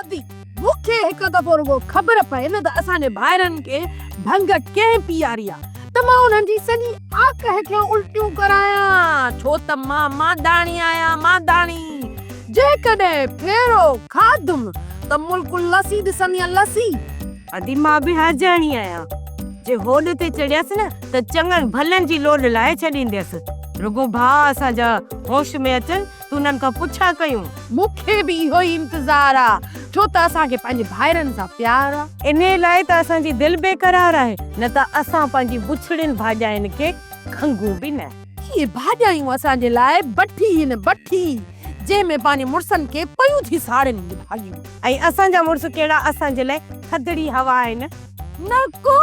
ادي، مون کي هڪ دفعو رڳو خبر پئي نه ته اسان جي ڀائرن کي ڀنگ ڪنهن پياري آ ته مان انهن جي سڄي آڪهه کي الٽيون ڪرايان ڇو ته مان مانداڻي آهيان مانداڻي. جيڪڏهن ڦيرو کاڌم ته ملڪ لسي ڏسندينء لسي. ادي، مان به هرجاڻي آهيان. جي هوڏ تي چڙهيس نه ته چڱن ڀلن جي لوڏ لاهي ڇڏينديس. رڳو ڀاء اسان جا هوش ۾ اچن تونن کان پڇا ڪيون. مون کي به اهو ئي انتظار آ، ڇو ته اسان کي پنهنجي ڀائرن سان پيار آ. انهيء لاء ته اسان جي دل بي قرار آهي، نه ته اسان پنهنجي بڇڙين ڀاڄاين کي کنگهون به نه. اهي ڀاڄايون اسان جي لاء بٺي هن، بٺي جنهن ۾ پنهنجي مڙسن کي پيون ٿي ساڙين هي ڀاڄيون. ۽ اسان جا مڙس ڪهڙا اسان جي لاء ٿڌڙي هوا آهن. نه ڪو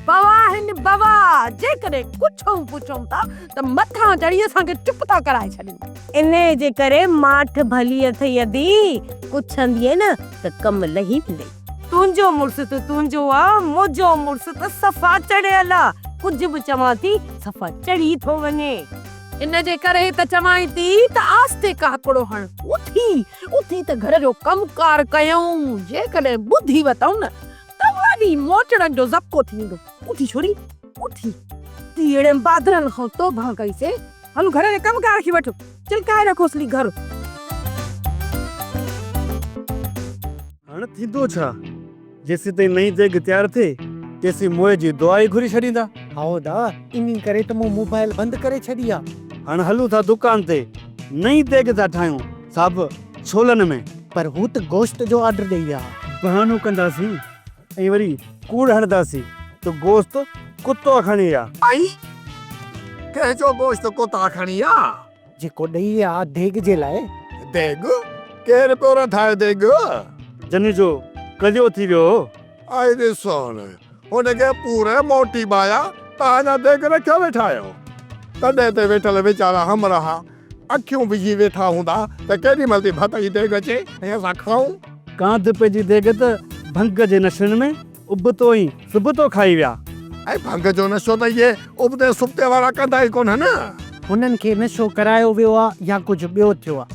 بوا هن بوا جيڪڏهن ڪڇئون پڇئون ٿا ته مٿان چڙهي اسان کي چپ ٿا ڪرائي ڇڏين. انهيء جي ڪري ماٺ ڀلي اٿئي ادي، ڪڇندينء نه ته ڪم لهي ويندئي. تنهنجو مڙس ته تنهنجو آ، منهنجو مڙس ته صفا چڙهيل آ، ڪجهه به چوان ٿي صفا چڙهي ٿو وڃي. ان جي ڪري ته چوانء ٿي ته آستي ڪاڪڙو هڻ، اٿي اٿي ته گهر جو ڪم ڪار ڪيائون، جيڪڏهن ٻڌي وتئون نه. توهانجي موچڙن جو ذبحو ٿي ويندو. اٿي ڇوري، اٿي! تي اهڙن بهادرن کان توبهه ڪئي سي. هل گهر جي ڪم ڪار کي وٺ، چلڪائي رکوس لي گهر. هاڻ ٿيندو ڇا؟ جيسيتائين نئين ديڳ تيار ٿئي، تيسين موئي جي دعا ئي گهري ڇڏيندا. هائو دا، انهي ڪري ته مون موبائيل بند ڪري ڇڏي آ. هاڻ هلون ٿا دڪان تي، نئين ديڳ ٿا ٺاهيون. صاحب ڇولن ۾. پر هو ته گوشت جو آرڊر ڏئي ويا ها. بهانو ڪنداسين ۽ وري ڪوڙ هڻداسين ته گوشت ڪتا کڻي ويا. اي ڪنهن جو گوشت ڪتا کڻي ويا. جيڪو ڏئي ويا ها ديڳ جي لاء. ديڳ؟ ڪير پيو رڌائي ديڳ؟ جنھن جو ڪليو ٿي ويو هو. اي ڏس هن ان کي پوري موٽي ٻايا ته اڃا ديڳ رکيو ويٺا آهيو. تڏي تي ويٺل ويچارا همراهه اکيون وجهي ويٺا هوندا ته ڪيڏي مهل ٿي ڀت جي ديڳ اچي ۽ اسان کائون. ڪانڌ پئجي ديڳ ته ڀنگ جي نشن ۾ ابتو ۽ سبتو کائي ويا. ۽ ڀنگ جو نشو ته اهي ابتي سبتي وارا ڪندا ئي ڪونهن. هنن کي نشو ڪرايو ويو آ يا ڪجهه ٻيو ٿيو آ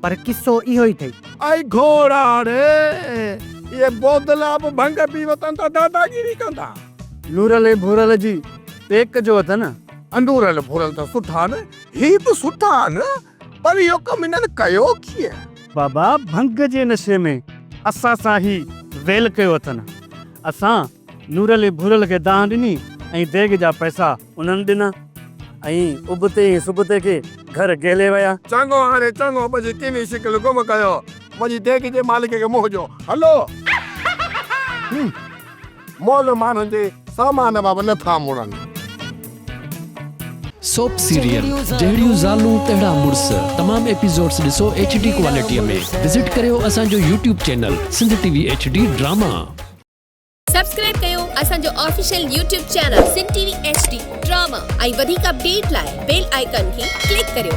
پر قصو اهو ئي ٿئي. اي گهوڙاڙي! اهي بودلا به ڀنگ پي وتن ته داداگيري ڪندا. نورل ۽ ڀورل جي پيڪ جو اٿن. انورل ڀورل ته سٺا آهن. هي به سٺا آهن پر اهو ڪم هنن ڪيو ڪيئن؟ بابا ڀنگ جي نشي ۾ اسان سان هي ويل ڪيو اٿن. اسان نورعلي ڀورل کي دانهن ڏني ۽ ديڳ جا پئسا انهن ڏنا ۽ ابتي ۽ سبتي کي گهر گهلي ويا. چڱو هاڻي چڱو پنهنجي ڪيني شڪل گم ڪيو. وڃي ديڳ جي مالڪ کي منهن ڏيو. هلو! مئل ماڻهن جي سامان مان به نه ٿا مڙن. سوپ سيريل جهڙيون زالون تهڙا مڙس تمام ايپيسوڊس ڏسو ايڇ ڊي ڪوالٽيء ۾ وزٽ ڪريو اسان جو YouTube channel Sindh T V H D drama. Subscribe ڪيو اسان جو official YouTube channel Sindh T V H D drama ۽ وڌيڪ اپڊيٽ لاء بيل آئيڪان کي ڪلڪ ڪريو.